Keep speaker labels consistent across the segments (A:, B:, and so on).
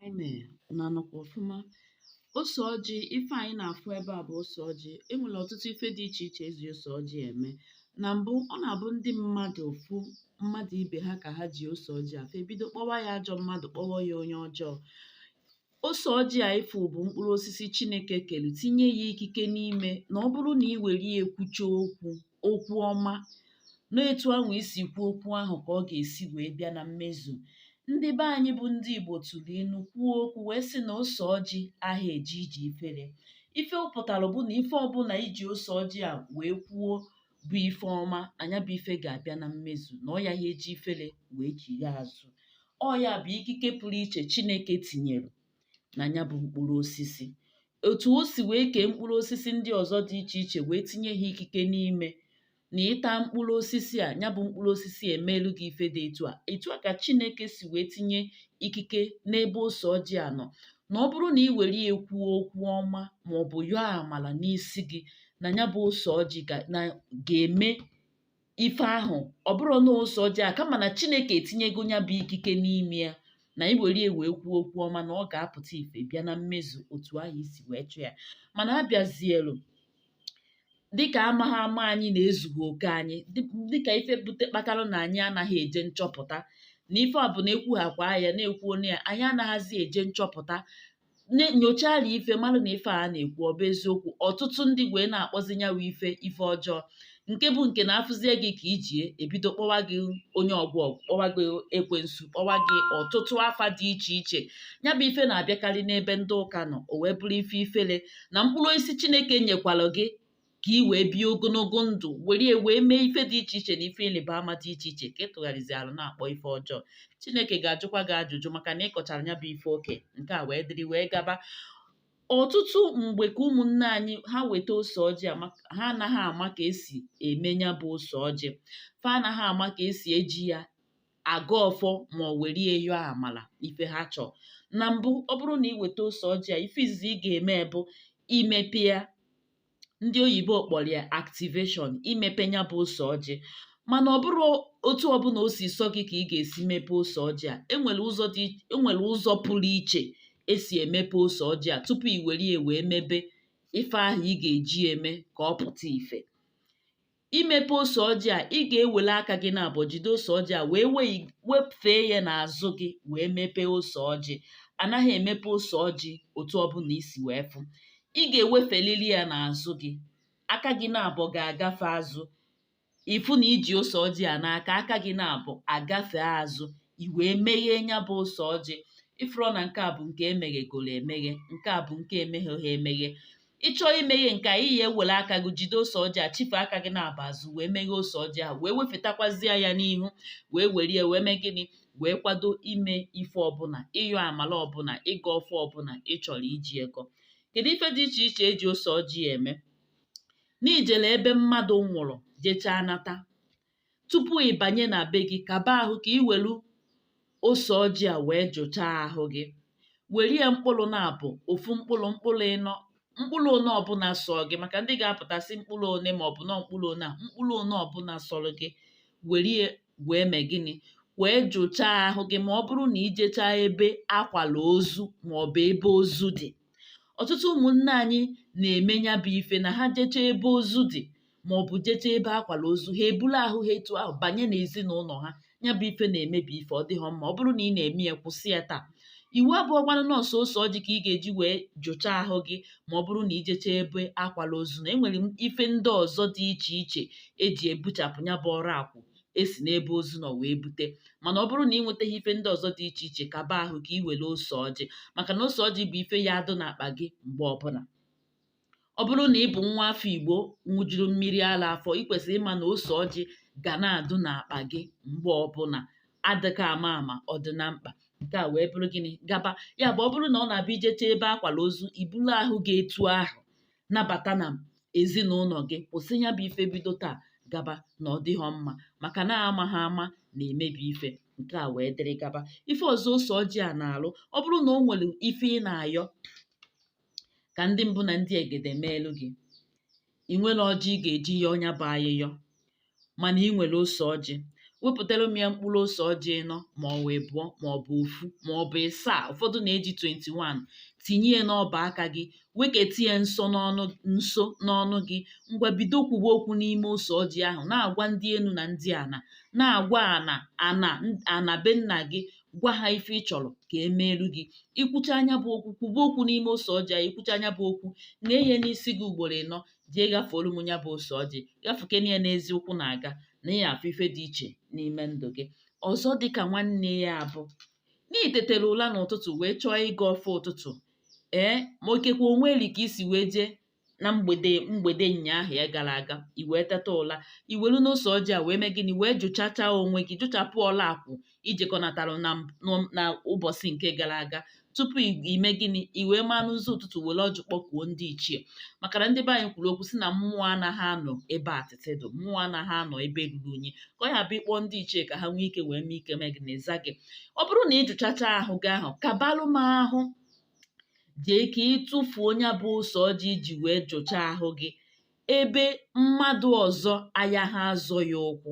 A: anyị mee na anọkwa ọfụma ose ọjị ife anyị na-afụ ebe a bụ ose ọjị enwere ọtụtụ ife dị iche iche eji ose ọjị eme na mbụ ọ na-abụ ndị mmadụ fụ mmadụ ibe ha ka ha ji ose ọjị a fa ebido kpọwa ya ajọ mmadụ kpọwa ya onye ọjọọ ose ọjị a ịfụ bụ mkpụrụ osisi chineke kere tinye ya ikike n'ime na ọ bụrụ na ị were ya ekwucha okwu okwu ọma na etu ahụ i si kwuo okwu ahụ ka ọ ga-esi wee bịa na mmezu ndị be anyị bụ ndị Igbo tụrụ ilu kwuo okwu wee sị na ose ọjị aha eje ije ifere ife ọ pụtara bụ na ife ọbụla i ji ose ọjị a wee kwuo bụ ife ọma na ya bụ ife ga-abịa na mmezu na ọ yaghị eji ifere wee chigha azụ ọ ya bụ ikike pụrụ iche Chineke tinyere na ya bụ mkpụrụ osisi otu o si wee kee mkpụrụ osisi ndị ọzọ dị iche iche wee tinye ha ikike n'ime na ị ta mkpụrụ osisi a ya bụ mkpụrụ osisi emeelu gị ife dị etu a etu a ka Chineke si wee tinye ikike n'ebe ose ọjị a nọ na ọ bụrụ na ị were ya kwuo okwu ọma ma ọ bụ yọọ amala n'isi gị na ya bụ ose ọjị ga-eme ife ahụ ọ bụrọ na ose ọjị a kama na chineke etinyego ya bụ ikike n'ime ya na i were ya wee kwuo okwu ọma na ọ ga-apụta ife bịa na mmezu otu ahụ i si wee chọọ ya mana abịazielu dịka amaghị ama anyị na ezughị oke anyị dịka ife bute kpatara na anyị anaghị eje nchọpụta na ife a bụ na ekwughakwa ya na-ekwu onye ya anyị anaghịzi eje nchọpụta nyochala ife mara na ife a na-ekwu ọ bụ eziokwu ọtụtụ ndị wee na-akpọzi ya bụ ife ife ọjọọ nke bụ nke na a fụzie gị ka i ji ya ebido kpọwa gị onye ọgwọ ọgwụ kpọwa gị ekwensu kpọwa gị ọtụtụ afa dị iche iche ya bụ ife na-abịakarị n'ebe ndị ụka nọ o wee bụrụ ife ifere na mkpụrụ osisi chineke nyekwara gị ka ị wee bie ogologo ndụ were ya wee mee ife dị iche iche na ife ịrịba ama dị iche iche ka ị tụgharịzialụ na-akpọ ife ọjọọ chineke ga-ajụkwa gị ajụjụ maka na ị kọchara ya bụ ife o ke nke a wee dịrị wee gaba ọtụtụ mgbe ka ụmụnne anyị ha weta ose ọjị a ha anaghị ama ka esi eme ya bụ ose ọjị fa anaghị ama ka esi eji ya agọ ọfọ ma ọ were ya yọọ amala ife ha chọọ na mbụ ọ bụrụ na ị weta ose ọjị a ife izizi ị ga-eme bụ imepe ya ndị oyibo kpọrọ ya activation imepe ya bụ ose ọjị mana ọ bụrọ otu ọbụla o si sọ gị ka ị ga-esi mepe ose ọjị a enwere ụzọ dị enwere ụzọ pụrụ iche esi emepe ose ọjị a tupu i were ya wee mebe ife ahụ ị ga-eji eme ka ọ pụta ife imepe ose ọjị a ị ga-ewele aka gị naabọ jide ose ọjị a wee wefee ya n'azụ gị wee mepee ose ọjị a naghị emepe ose ọjị otu ọbụla i si wee fụ ị ga-ewefelili ya n'azụ gị aka gị naabọ ga-agafe azụ ị fụ na i ji ose ọjị a n'aka aka gị naabọ agafe azụ i wee meghee nya bụ ose ọjị ị fụrụ na nke a bụ nke emeghegoro emeghe nke a bụ nke emegheghị emeghe ị chọọ imeghe nke a ị ya-ewere aka gị jide ose ọjị a chife aka gị naabọ azụ wee meghe ose ọjị a wee wefetakwazịa ya n'ihu wee were ya wee mee gịnị wee kwado ime ife ọbụla ịyọ amala ọbụla ịgọ ọfọ ọbụla ị chọrọ iji ya gọọ kedu ife dị iche iche e ji ose ọjị eme na i jere ebe mmadụ nwụrụ jechaa nata tupu ị banye na be gị kaba ahụ ka ị welu ose ọjị a wee jụchaa ahụ gị were ya mkpụrụ naabọ ofu mkpụrụ mkpụrụ ịnọ mkpụrụ one ọbụla sọ gị maka ndị ga-apụta sị mkpụrụ one ma ọ bụ na mkpụrụ one a mkpụrụ one ọbụla sọrọ gị were ya wee mee gịnị wee jụchaa ahụ gị ma ọ bụrụ na i jechaa ebe akwala ozu ma ọ bụ ebe ozu dị ọtụtụ ụmụnne anyị na-eme nya bụ ife na ha jechaa ebe ozu dị ma ọ bụ jecha ebe akwara ozu ha ebulu ahụ ha etu ahụ banye n'ezinụlọ ha ya bụ ife na-emebi ife ọ dịghọ mma ọ bụrụ na ị na-eme ya kwụsị ya taa iwu abụghọkwanụ na ọ sọ ose ọjị ka ị ga-eji wee jụchaa ahụ gị ma ọ bụrụ na i jechaa ebe akwala ozu na e nwere ife ndị ọzọ dị iche iche e ji ebuchapụ ya bụ ọrakwụ e si n'ebe ozu nọ wee bute mana ọ bụrụ na ị nwetaghị ife ndị ọzọ dị iche iche kaba ahụ ka ị were ose ọjị maka na ose ọjị bụ ife ya-adụ n'akpa gị mgbe ọbụla ọ bụrụ na ị bụ nwa afọ Igbo ṅụjuru mmiri ara afọ ị kwesịrị ịma na ose ọjị ga na-adụ n'akpa gị mgbe ọbụla adịka ama ama ọ dị na mkpa nke a wee bụrụ gịnị gaba ya bụ ọ bụrụ na ọ na-abụ i jechaa ebe akwara ozu i buru ahụ gị etu ahụ nabata na ezinụlọ gị kwụsị ya bụ ife bido taa gaba na ọ dịghọ mma maka na amaghị ama na-emebi ife nke a wee dịrị gaba ife ọzọ ose ọjị a na-alụ ọ bụrụ na o nwere ife ị na-ayọ ka ndị mbụ na ndị egede meelu gị ị nwerọ ọjị ị ga-eji yọọ nya bụ ayịyọ mana ị nwere ose ọjị wepụtara m ya mkpụrụ ose ọjị ịnọ ma ọ bụ abụọ ma ọ bụ ofu ma ọ bụ ịsaa ụfọdụ na-eji 21 tinye ya n'ọba aka gị weketa ya nso n'ọnụ gị ngwa bido kwube okwu n'ime ose ọjị ahụ na-agwa ndị enu na ndị ana na-agwa ana ana be nna gị gwa ha ife ị chọrọ ka e meelu gị i kwuchaa nya bụ okwu kwuba okwu n'ime ose ọjị a i kwuchaa nya bụ okwu ṅee ya n'isi gị ugboro ịnọ jee ghafuoru m nya bụ ose ọjị ghafukene ya n'ezi ụkwụ na-aga na ị ya-afụ ife dị iche n'ime ndụ gị ọzọ dịka nwanne ya bụ na i tetere ụla n'ụtụtụ wee chọọ ịgọ ọfọ ụtụtụ ee ma ikekwe o nwere ka i si wee jee na mgbede ụnyaahụ ya gara aga i wee teta ụla i welu n'ose ọjị a wee mee gịnị wee jụchachaa onwe gị jụchapụ ọla akwụ i jekọnatara na m- na ụbọsị nke gara aga tupu i- i mee gịnị i wee maa n'ụzọ ụtụtụ were ọjị kpọkuo ndị ichie maka na ndị be anyị kwuru okwu si na mmụọ anaghị anọ ebe atịtị dị mmụọ anaghị anọ ebe ruru unyi ka ọ ya-abụ ị kpọọ ndị ichie ka ha nwee ike wee nwee ike mee gịnị za gị ọ bụrụ na ị jụchacha ahụ gị ahụ kabalụ m ahụ jee ka ị tụfuo nya bụ ose ọjị i ji wee jụchaa ahụ gị ebe mmadụ ọzọ ayaha azọ ya ụkwụ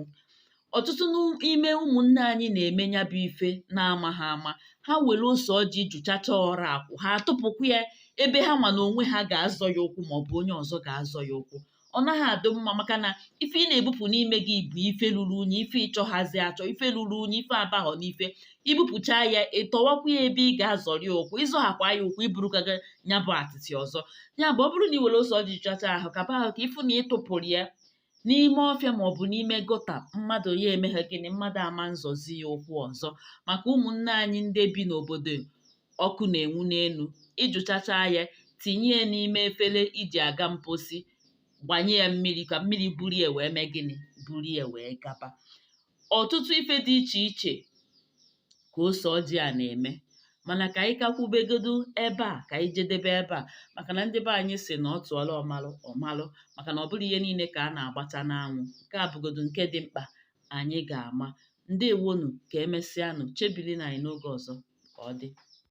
A: ọtụtụ n'ime ụmụnne anyị na-eme nya bụ ife n'amagha ama ha were ose ọjị jụchacha ọra akwụ ha atụpụkwa ya ebe ha ma na onwe ha ga-azọ ya ụkwụ maọbụ onye ọzọ ga-azọ ya ụkwụ ọ naghị adị mma maka na ife ị na-ebupụ n'ime gị bụ ife luru unyi ife ị chọghazi achọ ife luru unyi ife abaghọ n'ife i bupụcha ya ị tọwakwa ya ebe ị ga-azọrị ụkwụ ị zọghakwa ya ụkwụ i burukwa nya bụ atịtị ọzọ ya bụ ọ bụrụ na ị were ose ọjị jụchaa ahụ kaba ahụ ka ị fụ na ị tụpụrụ ya n'ime ọfịa maọbụ n'ime gutter mmadụ ya emeghe gịnị mmadụ ama nzọzi ya ụkwụ ọzọ maka ụmụnne anyị ndị bi n'obodo ọkụ na-enwu n'elu ị jụchacha ya tinye ya n'ime efere i ji aga mposi gbanye ya mmiri ka mmiri buru ya wee mee gịnị buru ya wee gaba ọtụtụ ife dị iche iche ka ose ọjị a na-eme mana ka anyị ka kwubegodu ebe a ka anyị jedebe ebe a maka na ndị be anyị si na a tụọlụ ọmalụ ọ malụ maka na ọ bụrọ ihe niile ka a na-agbata n'anwụ nke a bụgodu nke dị mkpa anyị ga-ama ndewonu ka emesịanụ chebirinụ anyị n'oge ọzọ ka ọ dị